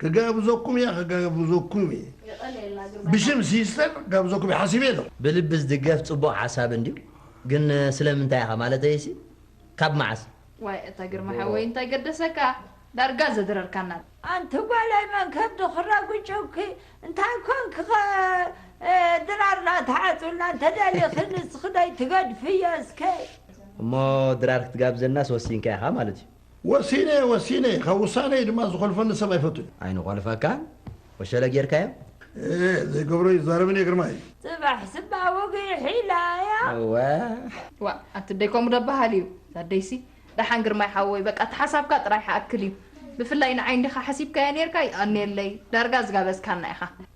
ክጋብዘኩም እየ ክጋብዘኩም እየ ብሽም ሲስተር ክጋብዘኩም እየ ሓሲበ እየ ዘለኹ። ብልቢ ዝድገፍ ጽቡቕ ሓሳብ እንድዩ ግን ስለምንታይ ኢኻ ማለተይሲ ካብ መዓስ? ዋይ እታ ግርማ ሓወይ እንታይ ገደሰካ ዳርጋ ዘድረርካና። ኣንቲ ጓለይ መን ከብዱ ክረግጩኪ እንታይ ኮንኪ ከ ድራር ናታ ዓጹና እንተ ደሊኪ ንስኪ ደይ ትገድፍዮ እስከ። እሞ ድራር ክትጋብዘናስ ወሲንካ ኢካ ማለት እዩ። ወሲነ እየ ወሲነ እየ ካብ ውሳነይ ድማ ዝኾልፈኒ ሰብ ኣይፈቱን። ኣይንኾልፈካን ወሸለ ጌርካዮ። እህ ዘይገብሮ ይዛረብን እየ ግርማይ። ጽባሕ ስባ ወጊሕ ኢላ እያ። እወ። ዋእ ኣቲ ኣደይ ከምኡ ዶ በሃል እዩ እዛ ኣደይሲ። ደሓን ግርማይ ሓወይ በቃ እቲ ሓሳብካ ጥራይ ሓኣክል እዩ ብፍላይ ንዓይ እንዲኻ ሓሲብካያ ኔርካ ይቀንየለይ ዳርጋ ዝጋበዝካና ኢኻ።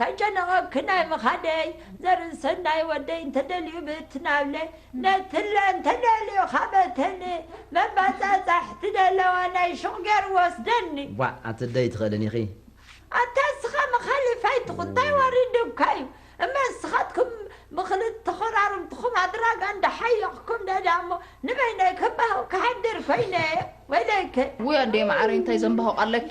ተጨነቐኪ ናይ ምኻደይ ዘርኢ ሰናይ ወደይ እንተደልዩ ብትናብለ ነትለ እንተደልዩ ካበተን መባጻጻሕቲ ደለዋ ናይ ሹቕ ገሩ ወስደኒ። ቧዕ ኣቲ እደይ ትኸእልን ኢኺ። ኣታ እስኻ መኻሊፋይ ትኹን ታይ ወሪዱካ እዩ እመ እስኻትኩም ብኽልት ተኾራርምትኹም ኣድራጋ እንዳ ሓየኽኩም ደዳ እሞ ንበይነይ ከባሁ ክሓድር ኮይነ ወይለይከ። ውይ ኣደየ መዓረይ እንታይ ዘምባሆቕ ኣለኪ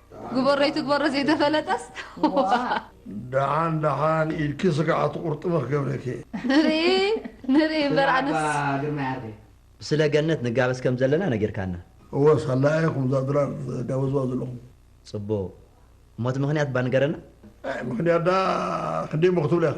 ግበሮ ኣይትግበሮ ዘይተፈለጠስ ደሓን ደሓን ኢድኪ ስጋዕ ኣትቑርጥሚ ክገብረኪ እየ። ንርኢ ንርኢ እምበር ኣነስ ብስለ ገነት ንጋበዝ ከም ዘለና ነጊርካና። እወ ሳላ ኢኹም እዛ ድራር ትጋበዝዋ ዘለኹም። ጽቡቕ እሞ እቲ ምኽንያት እባ ንገረና። ኣይ ምኽንያት ደኣ ክንደይ እሞ ክትብላ ኢኻ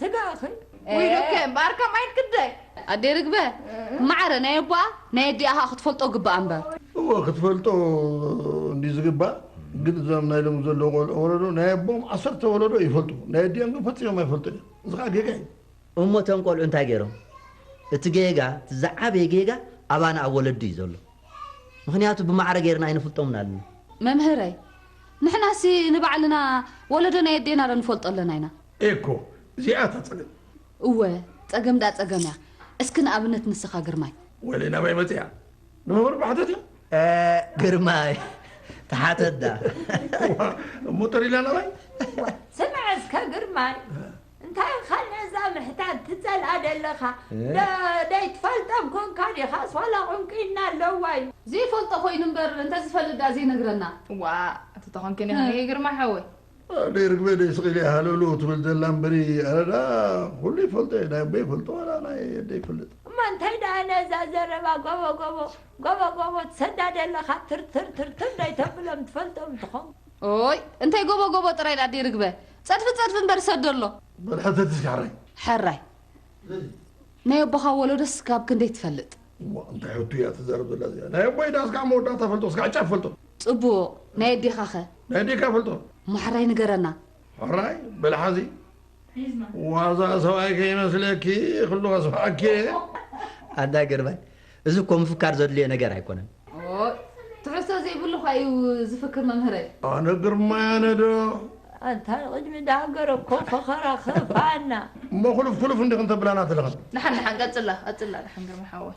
ስጋኺ ውይሉኪ እምበኣር ከማይ ክንደይ። ኣደይ ርግበ ማዕረ ናይ ኣቦኣ ናይ ኣዲኣ ከኣ ክትፈልጦ ግብኣ እምበር። እወ ክትፈልጦ እንድዩ ዝግባእ ግን እዞም ናይ ሎሚ ዘለዉ ቆልዑ ወለዶ ናይ ኣቦኦም ዓሰርተ ወለዶ ይፈልጡ ናይ ኣዲኦም ግን ፈጺሞም ኣይፈልጡን እዮም እዚ ከኣ ጌጋ እዩ። እሞ እቶም ቆልዑ እንታይ ጌሮም እቲ ጌጋ እቲ ዝዓበየ ጌጋ ኣባና ኣብ ወለዲ እዩ ዘሎ ምኽንያቱ ብማዕረ ጌርና ኣይንፍልጦምን ኣለና። መምህረይ ንሕናሲ ንባዕልና ወለዶ ናይ ኣዴና ዶ ንፈልጦ ኣለና ኢና። ኤኮ እዚኣ እታ ጸገም። እወ ጸገም ድኣ ጸገም እያ። እስኪ ንኣብነት ንስኻ ግርማይ። ወለይ ናበይ መጺኣ ንመምህር እባ ሕተትዮ። ግርማይ ተሓተት ድኣ። እሞ ተሪላ ናባይ። ስምዐ እስከ ግርማይ እንታይ ኢኻ ነዛ ምሕታት ትጸልኣ ደለኻ ደይትፈልጠም ኮንካ ዲኻስ ዋላ ቁንቁይና ኣለዋ እዩ። ዘይፈልጦ ኮይኑ እምበር እንተዝፈልጥ ድኣ ዘይነግረና። ዋእ እቲ ተኾንኪኒ ኸ ግርማይ ሓወይ። ኣደይ ርግበ ደይ ስቅ ኢለ ሃለውለው ትብል ዘላ እምበሪ ኣነ ደኣ ኩሉ ይፈልጦ እየ ናይ ኣቦይ ይፈልጦ ዋላ ናይ ኣደይ ይፈልጥ። እሞ እንታይ ደኣ ነዛ ዘረባ ጎቦ ጎቦ ጎቦ ጎቦ ትሰዳ ደለኻ ትርትር ትርትር ደይተብሎም ትፈልጦም እንተኾንካ። ኦይ እንታይ ጎቦ ጎቦ ጥራይ ኣደይ ርግበ ጸድፊ ጸድፊ እምበር ሰዶ ኣሎ። በል ሕተት እስከ ሕራይ። ሕራይ ናይ ኣቦኻ ወሎዶስ ክሳብ ክንደይ ትፈልጥ። እሞ እንታይ ሕቶ እያ ትዛረብ ዘላ እዚኣ ናይ ኣቦይ ደኣ እስካዕ መወዳእታ ፈልጦ እስካዕ ጫፍ ፈልጦ። ጽቡቅ ናይ ኣዴኻኸ? ናይ ኣዴካ ይፈልጦ። ማሕራይ ንገረና። ሕራይ በሊ ሓዚ ዋዛ ሰብኣይ ከይመስለኪ ክሉ ከስምዓኪ እየ። ኣንታ ግርማይ እዚ እኮ ምፍካር ዘድልዮ ነገር ኣይኮነን። ኦይ ትሕዝቶ ዘይብሉ እኳ እዩ ዝፍክር መምህረይ። ኣነ ግርማይ ኣነ ዶ። ኣንታ ንቕድሚ ዳሃገረ እኮ ፈኸራ ከፋኣና። እሞ ኩሉፍ ኩሉፍ እንዲኽን ተብላና ትልኽን። ድሓን ድሓን ቀጽላ ቀጽላ ድሓን ግርማይ ሓወይ።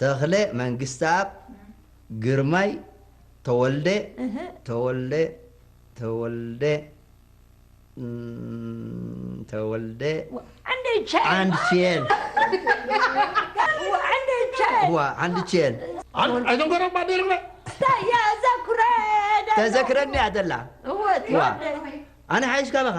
ተኽለ መንግስተኣብ ግርማይ ተወልደ ተወልደ ተወልደ ተወልደ ዓንድቼል ተዘክረኒ እያ ዘላ ኣነ ሓይሽካ በኻ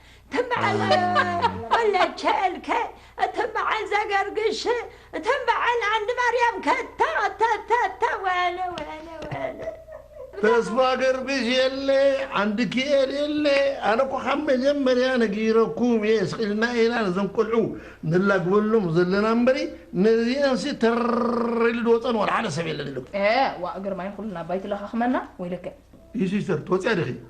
እተን በዓል ወለቸልከ እተን በዓል ዘገርግሽ እተን በዓል ዓንዲ ማርያም ከተተተተ ወለ ወለ ወለ ተስፋ ገርግሽ የለ ዓንዲ ክኤል የለ ኣነ እኮ ካብ መጀመርያ ነጊረኩም እየ ስኢልና ኢና ነዘም ቆልዑ ንላግበሎም ዘለና እምበሪ ነዚአንሲ ተር ኢሉ ድወፀን ዋላ ሓደ ሰብ የለን ኢሉ ዋእ ግርማይ ኩልና ኣባይ ትለኻኽመና ወይለከ እዩ ሲስተር ትወፅያ ዲኺ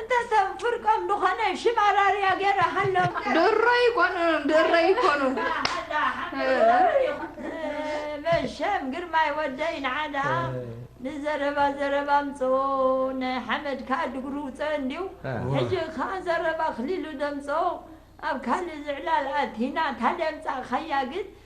እንተ ሰብ ፍርቆም ድኾነ ሽም ኣራርያ ገረ ሃሎም ድሮ ይኮኑ ድሮ ይኮኑ ዳሃዳ ሓምድ መሸም ግርማይ ወደይ ንዓዳ ንዘረባ ዘረባ ኣምጽኦ ናይ ሓመድ ከኣ ድግሩ ውጸ እንድዩ ሕጂ ከኣ ዘረባ ኣክሊሉ ደምጽኦ ኣብ ካልእ ዝዕላል ኣቲና ታደምጻእካያ ግን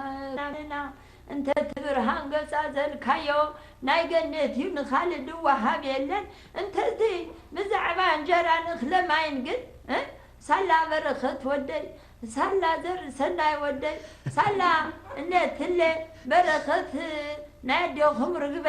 ኣእዛንና እንተ ትብርሃን ገጻ ዘልካዮ ናይ ገነት እዩ ንካልእ ድዋሃብ የለን እንተ እቲ ብዛዕባ እንጀራን እክለ ማይን ግን እ ሳላ በረከት ወደይ ሳላ ዘርእሰናይ ወደይ ሳላ እነትለ በረከት ናይ ኣዴኩም ርግበ